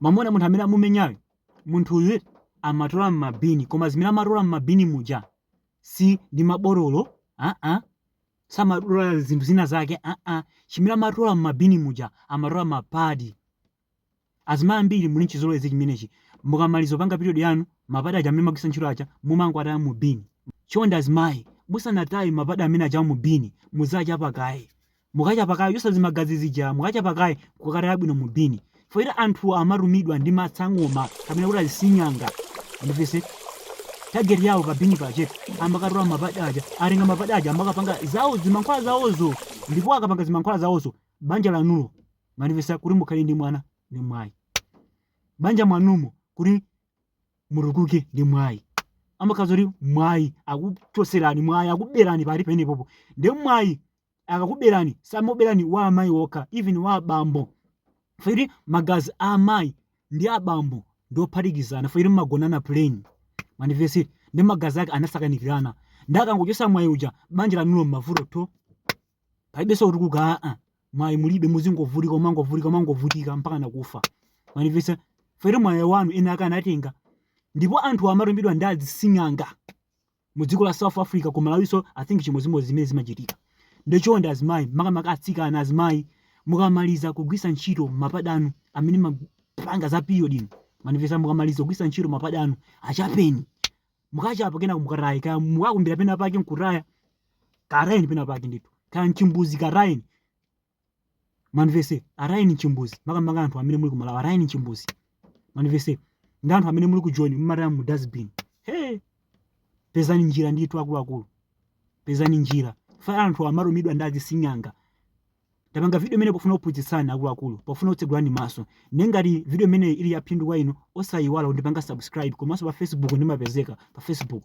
mwamuona munthu amene amumenyayo munthuyu amatola mmabini koma zimene amatola mmabini muja si ndi mabotolo aa samatola zinthu zina zake aa chimene amatola mmabini muja amatola mapadi azimayi ambiri muli nchizolowezi chimenechi mukamaliza kupanga period yanu mapadi aja amene magwisa ntchito aja mumangowataya mu bini chonde azimayi musanataye mapadi amene aja mu bini muzachapa kaye mukachapa kaye chosa zimagazi zija mukachapa kaye kukataya bwino mu bini poti anthu amatumidwa ndi masangoma kapena kuti azising'anga mundimvetse target yawo pa bini pache amakatola mapadi aja atenga mapadi aja amakapanga zawo zimankhwala zawozo ndipo akapanga zimankhwala zawozo banja lanulo mwandimvetsa kuti mukhale ndi mwana ndi mwayi banja mwanumo kuti mutukuke ndi mwayi amakhala kuti mwayi akuchoserani mwayi akuberani pali penepopo ndi mwayi akakuberani samakuberani wa amayi okha even wa abambo poti magazi a amayi ndi abambo ndi ophatikizana poti magonana plain mwandimvetsa ndi magazi ake anasakanikirana nde akangochosa mwayi uja banja lanulo mmavuto tho palibenso kutukuka aa mwayi mulibe muzingovutika umangovutika umangovutika mpaka nakufa mwandimvetsa poti mwayi wanu ena ake anatenga ndipo anthu amatumidwa ndi azising'anga mu dziko la south africa ku malawiso i think chimodzimodzi zimene zimachitika nde chonde azimayi makamaka atsikana azimayi mukamaliza kugwisa ntchito mapadi anu amene mapanga za period ino mwandimvetsa mukamaliza kugwisa ntchito mapadi anu achapeni mukachapa kena mukataya kaya mukakumbira pena pake nkutaya katayeni pena pake ndithu kaya nchimbuzi katayeni mwandimvetsa atayeni nchimbuzi makamaka anthu amene muli kumalawi atayeni nchimbuzi mwandimvetsa ndi anthu amene muli kujoni mumataya mu dustbin he pezani njira ndithu akuluakulu pezani njira poti anthu amatumidwa ndi azising'anga tapanga video imeneyi pofuna kuphunzitsani akuluakulu pofuna kutsegulani maso nde ngati video imene ili yaphindu kwa inu osayiwala kundipanga subscribe komanso pa facebook ndimapezeka pa facebook